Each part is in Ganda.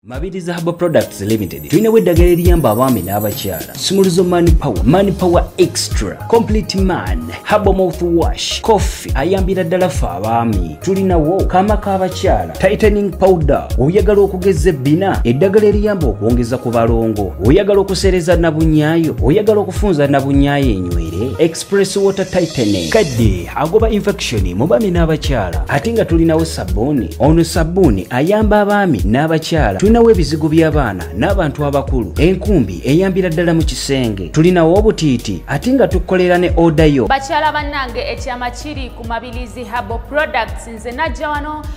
Mabiriza Herbal Products Limited tulinawo eddagala eriyamba abaami n'abakyala sumuluzo man power man power extra complete man herbal mouth wash coffee ayambira ddala ffe abaami tulinawo kaama k'abakyala tightening powder oyagala okugeza ebbina eddagala eriyamba okwongeza ku balongo oyagala okuseereza nabunyaayo oyagala okufunza nabunyaayo enywere Press water tightening kadde agoba infection mu baami n'abakyala ate nga tulinawo sabbuuni ono sabbuuni ayamba abaami n'abakyala tulinawo ebizigo by'abaana n'abantu abakulu enkumbi eyambira ddala mu kisenge tulinawo obutiiti ate nga tukolera ne oda yo bakyala bannange ekyama kiri ku mabilizi habo products nze najja wano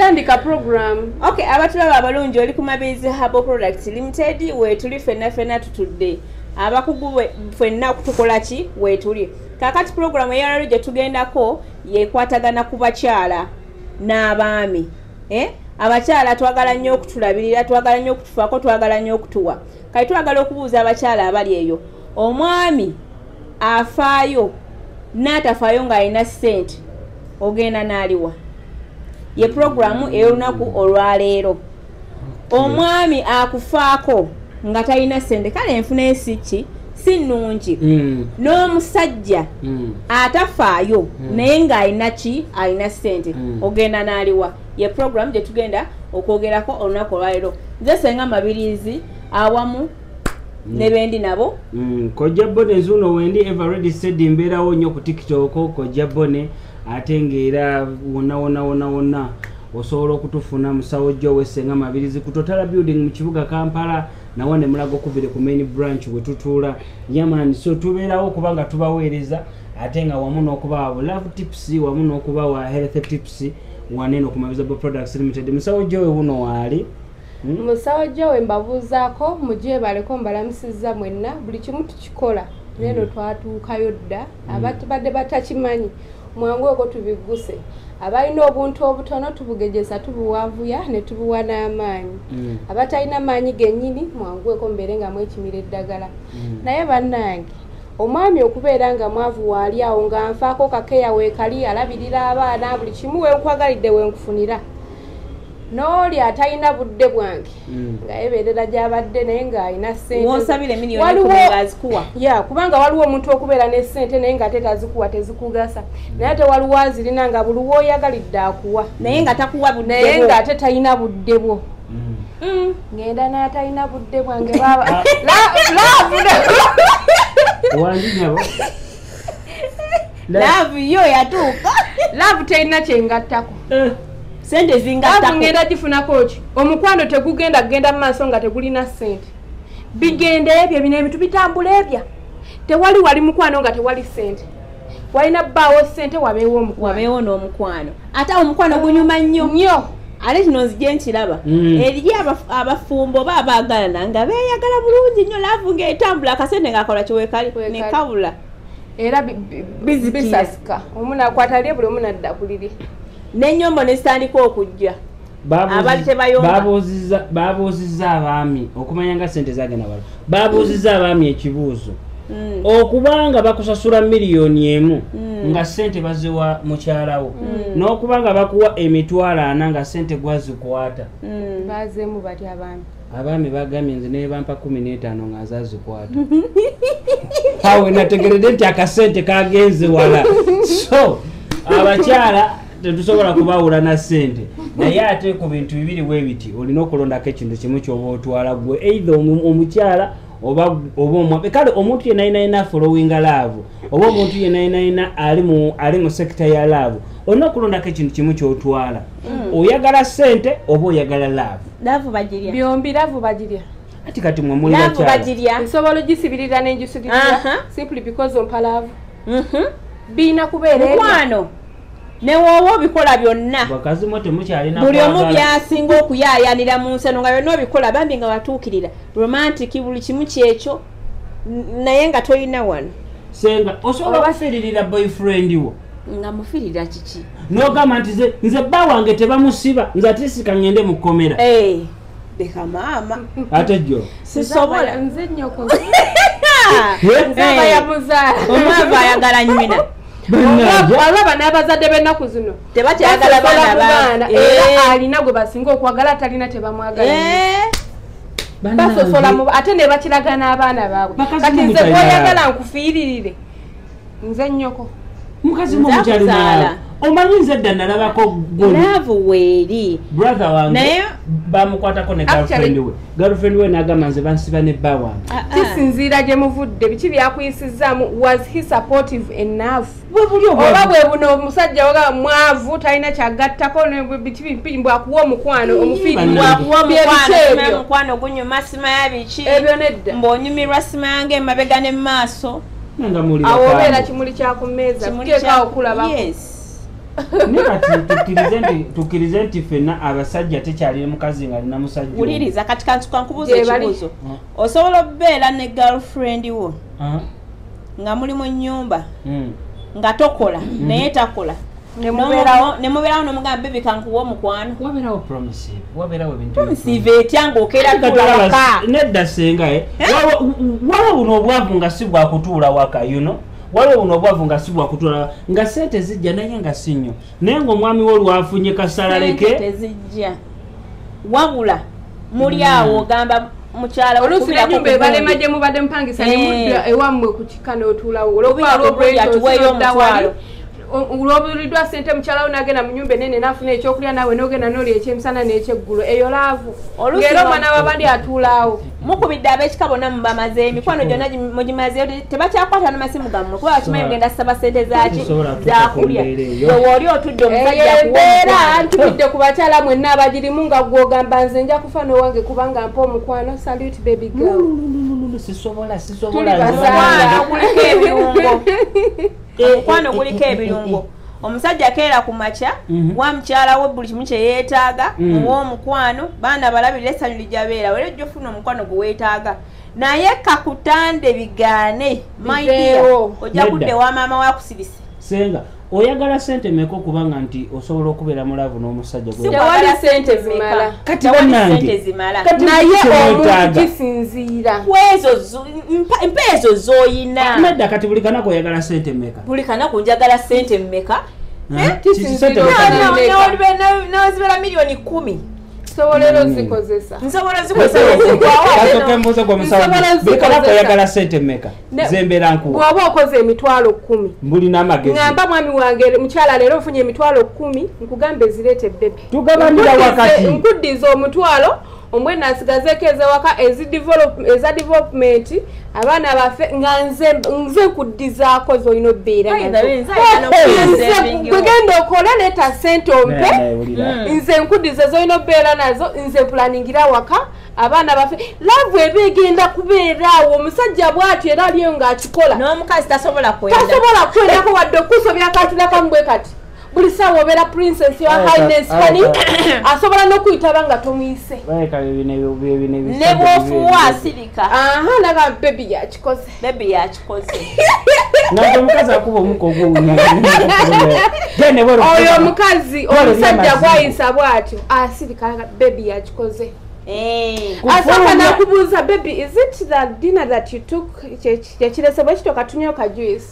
tandika program okay abatulaba abalungi oli ku mabizi habo product limited wetuli fenna fenna tutudde abakugu fenna tukola ki wetuli kakati program eyalalo gye tugendako yekwatagana ku bakyala n'abaami eh? abakyala twagala nnyo okutulabirira twagala nnyo okutufaako twagala nnyo okutuwa kati twagala okubuuza abakyala abali eyo omwami afaayo n'atafaayo ng'alina ssente ogenda n'aliwa ye pulogulaamu ey'olunaku olwaleero omwami akufaako nga talina sente kale enfuna esikki si nnungi hmm. n'omusajja hmm. atafaayo hmm. naye ng'alina ki alina sente ogenda n'aliwa ye pulogulaamu gye tugenda okwogerako olunaku olwaleero nze senga mabiriizi awamu Mm. nebendi nabo mm, kojja bone zuno wendi everready said mbeerawo nnyo ku tiktok kojja bone ate ng'era wonna wonna wonna wonna osobola okutufuna musawo jjo owesenga mabirizi ku totala building mu kibuga kampala nawa ne mulago okuvire ku main branch we tutuula yamani so tubeerawo okuba nga tubaweereza ate nga wamu n'okubawa love tips wamu n'okubawa health tips waneno ku mabizabo products limited musawo jjo we wuno waali hmm? musawo jjo we mbabuuzaako mugyebaleko mbalamusiza mwenna buli kimu tukikola neno hmm. twatuukayo dda mm. abatubadde batakimanyi mwangu ogwo tubigguse abalina obuntu obutono tubugejeza tubuwavuya ne tubuwa n'amaanyi mm. abatalina maanyi gennyini mwangweko mubeere nga mwekimira eddagala mm. naye bannange omwami okubeera nga mwavu waali awo nga nfaako kakeya weekali alabirira abaana buli kimu wenkwagalidde wenkufunira n'oli atalina budde bwange hmm. nga yebeerera gyabadde naye ng'alina sentewaliwo kubanga waliwo omuntu okubeera ne sente naye nga te tazikuwa tezikugasa hmm. naye ate waliwo azirina nga buli woyagalidde akuwa naye nga takuwa naye nga ate talina budde bwo hmm. ngenda natalina budde bwange baba love yo yatuuka love terina kyengattako eh. sente zingattako ngenda gifunako ki omukwano tegugenda kugenda mu maaso nga tegulina sente bigenda ebyo ebino ebintu bitambula ebya tewali wali mukwano nga tewali sente walina bbaawo sente wabeewo omukwano ate awo omukwano gunyuma nnyo nnyo ate kino nzija nkiraba mm. eriyo abafumbo oba abaagalana nga beeyagala bulungi nnyo laavu ngaetambula akasente ngaakola kiwekali nekabula era bisasika omu nakwata lye buli omu nadda kuliri n'ennyombo ne zitandika okujja babuuzizza abaami okumanya nga sente zagenda wala babuuzizza abaami ekibuuzo mm. okubanga bakusasula miliyoni emu mm. nga sente baziwa mukyalawo mm. n'okubanga bakuwa emitwalo ana nga sente gwazikwata abaami bagambye nze naye bampa kumi n'etaano nga azazikwata awe nategeredde nti akasente kagenze wala so abakyala tetusobola kubawula na sente naye ate ku bintu bibiri bwe biti olina okulondako ekintu kimu kyoba otwala gwe eitha omukyala oba omwabe kale omuntu yenainayina followinga laavu oba omuntu yenainayina ali mu sekita ya laavu olina okulondako ekintu kimu kyotwala hmm. oyagala sente oba oyagala laavu ati kati mwe muliakyala nsobola ogisibirira nenjisubirira simply because ompalaavu mhm. birina kubeera mukwano newoowa obikola byonna buli omu byasinga okuyaayanira mu nseno nga byonna obikola bambi nga watuukirira romantic buli kimu kyekyo naye nga tolina wano senga osobola obafiririra boyfriend wo nga mufirira kiki nogamba nti nze bba wange tebamusiba nze atisika ngende mu kkomera eh, leka maama ate jo sisobola nze nyoko omwava ayagala nyina olaba n'abazadde b'ennaku zino tebakyagala baana era eh. alina gwe basinga okwagala atalina tebamwagala eh. basosola ate ne bakiraga n'abaana baabwe kati nze gwoyagala nkufiiririre nze nnyoko mukazi mumukyalinaala omanyi nze dda nalabako golaavu weeri brother wange bamukwatako ne galfriend we girlfriend we nagamba nze bansiba ne bba wange ah, ah. kisinziira gye muvudde biki byakuyisizaamu was he supportive enough oba bwe buno omusajja waga mwavu talina kyagattako bikibimbu akuwa omukwano omufiirimukwano gunyuma sima ya biki ebyo nedda mbuonyumirwa sima yange emabega ne mu maaso awo obeera kimuli kyakumeeza kuteekaawo kulabako tukirize nti fena abasajja tekyalire mukazi nga alina musajjawuliriza kati kantukankubuuza ekibuuzo osobola okubeera ne girlfriend wo nga muli mu nyumba hmm. nga tokola hmm. naye takola nemubeerawo nomugamba bebi kankuwa omukwano etya ngaokeeranedda sengae eh? eh? wawa buno obwavu nga si bwakutuula waka yuno waliwo buno obwavu nga si bwakutula nga sente zijja naye nga si nnyo naye ngaomwami wo lwafunye kasalaleke tezijja wabula muli hmm. awo ogamba mukyala oluusi nenyumba ebalema gye mubadde mupangisa nemudda eh. ewammwe ku kika n'otuulawo olwokuba olwokuba yatuweeyo omutwalo olwobuliddwa sente mukyalawo nagenda munyumba enene nafuna ekyokulya nawe nogenda noli ekyemisana nekyeggulo eyo laavu ngera omwana wabandi atuulaawo mukubidde abekika bonna mubamaze emikwano gyonna mugimazeyo tebakyakwata namasimu gammwe kuba bakimanyi ogenda saba sente zaki zakulya wewooli otudde omusajjaembeera ntubidde ku bakyala mwenna abagirimu nga gwogamba nze nja kufa nowange kubanga mpa omukwano salute baby girl sisobola sisobola omukwano eh, eh, guliko eh, ebirungo omusajja keera ku makya mhm. wa mukyala we buli kimu kyeyeetaaga mhm. ow'omukwano baana balabirira essanyu lijabeera wera ojja ofuna omukwano gwe weetaaga naye kakutande bigaane maidia ojja kudde wa maama wakusibise senga oyagala sente meka okuba nga nti osobola okubeera mulavu n'omusajja tewali sente zimala kati banange naye omuntu kisinziira kwezo mpa ezo zoyina ah, nedda kati buli kanaku oyagala sente meka buli kanaku njagala sente meka nozibera miliyoni kumi oyagala sente meka zembera nkubwaba okoze emitwalo kumi mbulina amageamba mwami wange mukyala leero ofunye emitwalo kumi nkugambe zireete bebi tugabanira wakati nkuddiza omutwalo omwena nsigazeeko ezewaka eza development abaana baffe nga nze nkuddizaako zolina obeeragenda okola leeta sente ompe nze nkuddiza zolina obeera nazo nze pulaningira awaka abaana baffe laavu eba egenda kubeeraawo omusajja bwatyo era aliyo ng'akikola n'omukazi tasobola kwendako wadde okuusa obyakatunakamu bwe kati buli saawa obeera princess your highness kani asobola n'okuyitaba nga tomuyise ne bwofuwa asirika aha naga bebi yakikoze bebi yakikoze oyo omukazi omusajja gwayisa bwatyo asirika ah, bebi yakikoze eh. asooka nakubuuza bebi is it the dinner that you took kyekiresebwa ekitoka tunyoka juice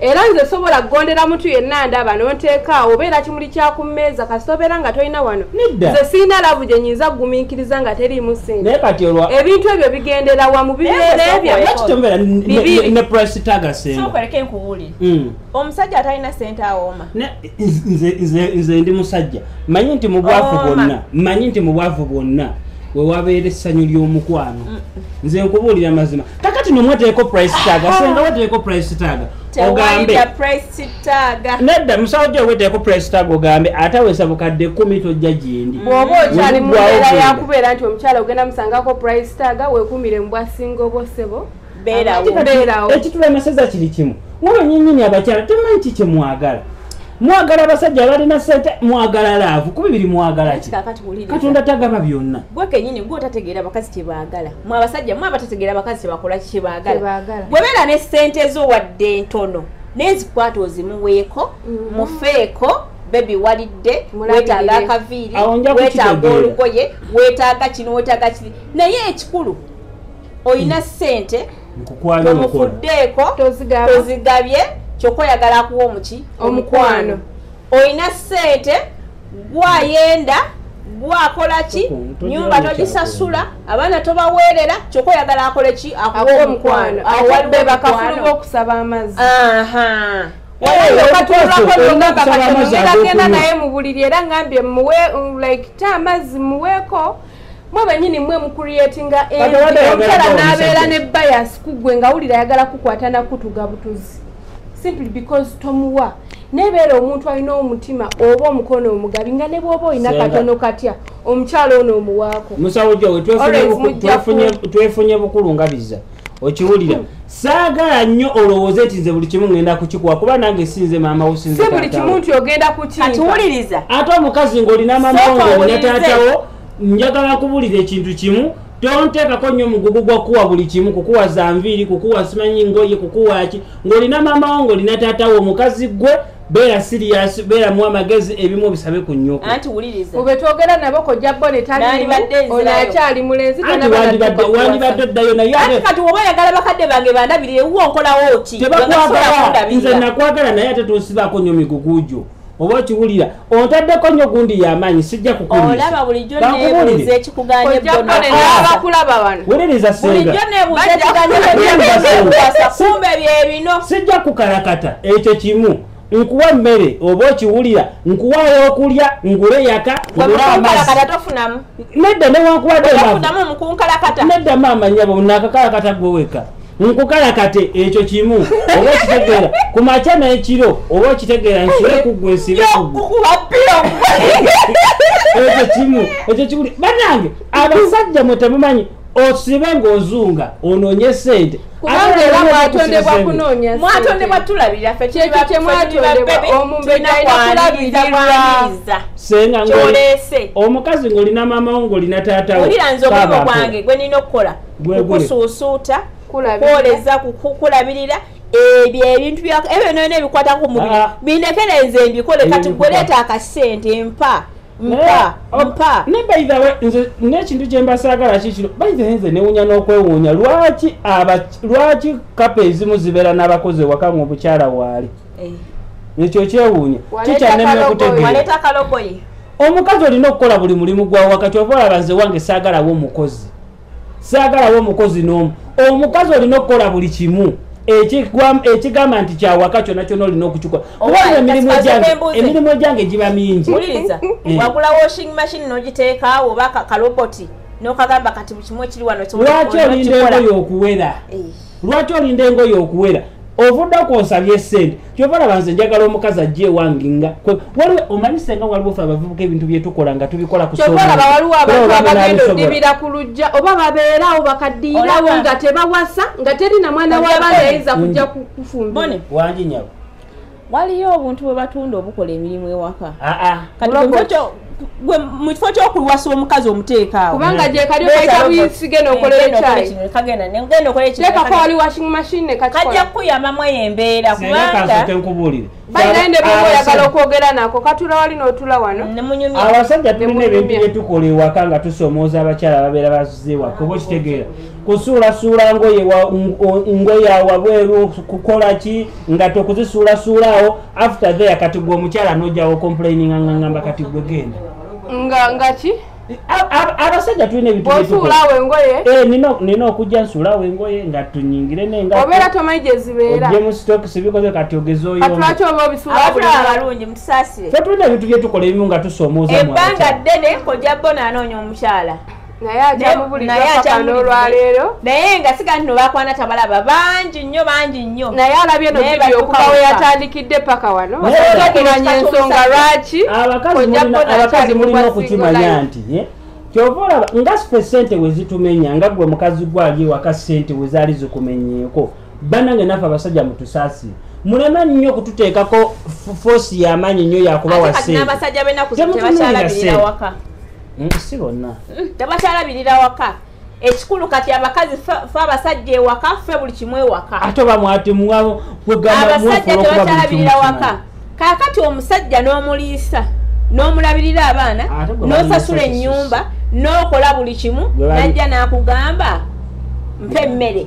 era nze sobola kugondera mutu yenna ndaba nonteekaawo obeera kimuli kyakummeeza kasita obeera nga tolina wano nze sirina lavu gye nyinza kugumiikiriza nga teriimu sente ebintu ebyo bigendera wa mu bibeera ebyobibiirekeekereke nkuwuli hmm. omusajja atalina sente awooma nze ndi musajja manyi nti mu bwavu bwonna manyi nti mu bwavu bwonna wewabeera essanyu ly'omukwano mm. nze nkubuulira amazima kakati nomwateeko price taga senga wateeko price taga ogambe nedda musawo gyo weteeko price taga ogambe ate awesa bukadde kumi tojja gyendi bwoba okyali mubeera yakubeera nti omukyala ogenda musangako price taga wekumire mubwasinga obwosebo beerawo ekitula amaseza kiri kimu waba nyenyini abakyala temanyi ki kyemwagala mwagala abasajja abalina sente mwagala laavu kuba biri mwagala ki katonda tagaba byonna gwekenyini gwe otategeera abakazi kyebaagala mwe abasajja mwe abatategeera abakazi kyebakola kyebaagala bwebeera ne ssente zo wadde ntono nezikwata ozimuweeko mm-hmm. mufeeko bebi walidde wetaaga akaviiri wetaaga olugoye wetaaga kino wetaaga kiri naye ekikulu olina hmm. ssente omufuddeeko tozigabye kyoka oyagala akuwa omuki omukwano olina sente gwayenda gwakola ki nyumba togisasula abaana tobaweerera kyokka oyagala akole ki akuwa omukwano awalibebakafulu bokusaba amazzi genda naye mubuliri era ngambye muwe like ta amazzi muweeko mwe benyini mwe mucreatinga omukyala nabeera ne bias kuggwe nga wulira ayagala kukwata nakutuga butuzi simply because tomuwa nebeera omuntu alina omutima oba omukono omugabi nga ne bwoba olina katono katya omukyala ono omuwaako musawo gyowe twefunye bukulu nga biza okiwulira saagala nnyo olowooze nti nze buli kimu ngenda kukikuwa kuba nange sinze maama wo sinze buli kimu nti ogenda kukiwuliriza ate omukazi ng'olina maama wo ng'olina taatawo njagala nkubulira ekintu kimu tonteekako nnyo omugugu gwa kuwa buli kimu kukuwa za nviiri kukuwa simanyi ngoye kukuwa ki ng'olina maama wo ng'olina taatawo omukazi ggwe beera siriyasi beeramu amagezi ebimu obisabe ku nnyoko anti wuliriza ube twogera nabo kojja bo ne talimu ono akyali mulenzi wandibadde oddayo naye ate kati oba oyagala bakadde bange bandabirire wuwo nkolawo ki tebakwagala nze nakwagala naye ate tonsibako nnyo migugu gyo oba okiwulira ontaddeko nnyo gundi yamaanyi sijja kukuliisa sijja kukalakata ekyo kimu nkuwa emmere oba okiwulira nkuwa okulya ngule yaka nedda newankuwaddenedda maama nyabo nakakalakata gweweka nkukalakate ekyo kimu oba okitegeera ku makya n'ekiro oba okitegeera nsule kuggwe nsibe ekyo kimu ekyo kimu banange abasajja mwe temumanyi osibe ng'ozunga onoonye sente kubanga era mwatondebwa kunoonya mwatondebwa tulabira fe kyekyo kyemwatondebwa omumbedaiakulabiriza senga ngolese omukazi ng'olina maama wo ng'olina taata wo wulira nze omulimu gwange gwe nina okukola kukusuusuuta kwoleza kukulabirira ebyo ebintu ebyo nona ebikwata ku mubiri ah. bindekerenze mbikole kati gweleeta akasente mpa mpa oh, mpa ne by the way nze n'ekintu kye mbasaagala kikino by the way nze newunya n'okwewuunya lwaki aba lwaki kapa ezimu zibeera n'abakozi ewaka mu obukyala waali eh. ekyo kyewuunya kikyanemye okutegeera omukazi olina okukola buli mulimu gwa wakati oba olaba nze wange saagalawo omukozi saagalawo omukozi n'omu omukazi olina okukola buli kimu ekigamba nti kyawaka kyona kyona olina okukikola emirimu egyange giba mingi eh. wagula washing machine nogiteekaawo oba kaloboti nokagamba kati bukimu ekiri wano lwaki olinda engoyo okuwera eh. lwaki olinda engoyo okuwera ovudde kwonsabye sente kyova olaba nze njagala omukazi ajja ewange nga waliwo omanyi senga waliwo fe abavubuka ebintu byetukola nga tubikola kuolaba waliwo abantu abagenda odibira ku lujja oba babeerawo bakaddiirawo nga tebawasa nga teri na mwana w'abaana yayinza kujja kufumba wangi nyabo waliyo obuntu bwe batunda obukola emirimu ewaka ah, ah. kati gwe mu kifo ky'okulwasa omukazi omuteeka awo kubanga mm. gyekali okaita buyisige nokolera ekyayitekako wali washing machine nekajja kukuyambamu eyo embeera kubangakubuulire bayinaende bwoba oyagala okwogera nako katula wali n'otula wano abasajja tulina ebintu byetukola ewaka nga tusomooza abakyala babeera bazize ewaka oba okitegeera kusuulasuula ngoye ngoye awabweru kukola ki nga tokuzisuulasuulaawo after there kati gwe omukyala nojawo complaining angangamba kati gwe genda nga nga ki abasajja tulina ebitusuulawo engoye eh, nina okujja nsuulawo engoye nga tunyingire nengaobeera tomanyi gyezibeeraojje mu stokisi bikoze kati ogezoyolwaki oba obisuulabalungi mutusaasire fe tulina ebintu byetukola ebimu nga tusoomooza ebbanga ddene kojja bona anoonya omukyala naye akyamubulidwaolwaleero naye nga siga ntino bakwana tabalaba bangi nnyo bangi nnyo naye alabye nokuba we yatandikidde paka wano okumanya ensonga lwaki abakazi mulina okukimanya nti eh? kyova olaba nga sife sente wezitumenya nga gwe mukazi gwali ewaka sente wezaali zikumenyeeko banange nafe abasajja mutusaasire mulema nnyo okututeekako foosi yamaanyi nnyo yakuba wasentemutunuulira sente mm, si bonna mm, tebakyalabirira waka ekikulu kati abakazi fe abasajja ewaka fe buli kimu ewaka ate oba mwati muwabo abasajja tebakyalabirira waka kaakati omusajja n'omuliisa n'omulabirira abaana n'osasula ennyumba n'okola buli kimu najja n'akugamba mpa emmere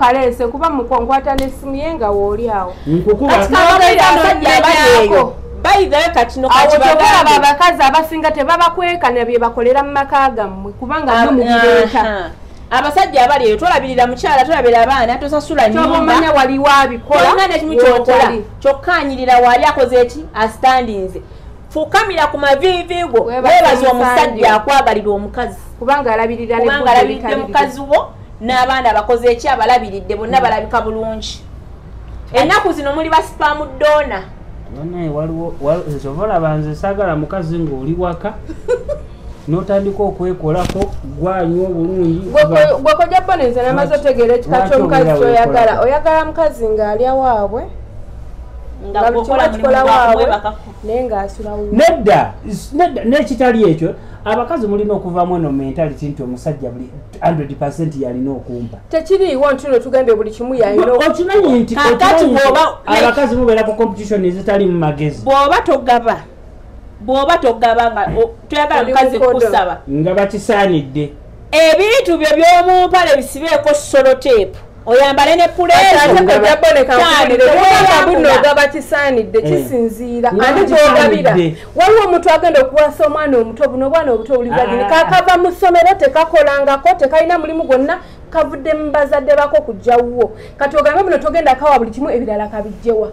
kaleese kuba mukonkwata nesimu ye nga wooli awo awotobalaba abakazi abasinga tebabakwekana byebakolera mu maka gammwe kubanga ah, mubireeta abasajja abali eyo tolabirira mukyala tolabira abaana tosasula nyumbaomanya waliwo abikolanekimu kyokola kyokka anyirira waali akoze eki asitandinze fukamira ku maviivi go webaza omusajja akwagalira omukazi kubanga alabiridde mukazi wo n'abaana abakoze eki abalabiridde bonna hmm. balabika bulungi ennaku zino muli basipamu dona banaye waliwo nze oba olaba nze sagala mukazi ng'oli waka notandika okwekolako gwanywa obulungi gwekoja bonenze namaze otegeera ekika kyomukazi kyoyagala oyagala mukazi ng'alya waabwe nga bukolamu waabwe nedda nedda nekitali ekyo abakazi mulina okuvamu eno mentality nti omusajja buli 100 percent yalina okumpa tekiriiwo nti no tugambye buli kimu yalinaokimanyi nti abakazi mubeera ku competition ezitali mu magezi bwoba togaba bwoba togaba nga toyagala mukazi kusaba nga bakisaanidde ebintu byo byomumpale bisibeeko soloteepu oyambale ne puleezoogaba kisaanidde eh. kisinziira ani gyogabira waliwo omuntu agenda okuwasa omwana omuto buno obwana obuto obulibagini ah. kakava mu ssomero tekakolangako tekalina mulimu gwonna kavudde mu bazadde bako kujjawuwo kati ogambe muno togenda kawa buli kimu ebirala kabijjewa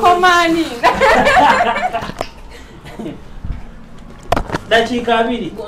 komani dakiika abiri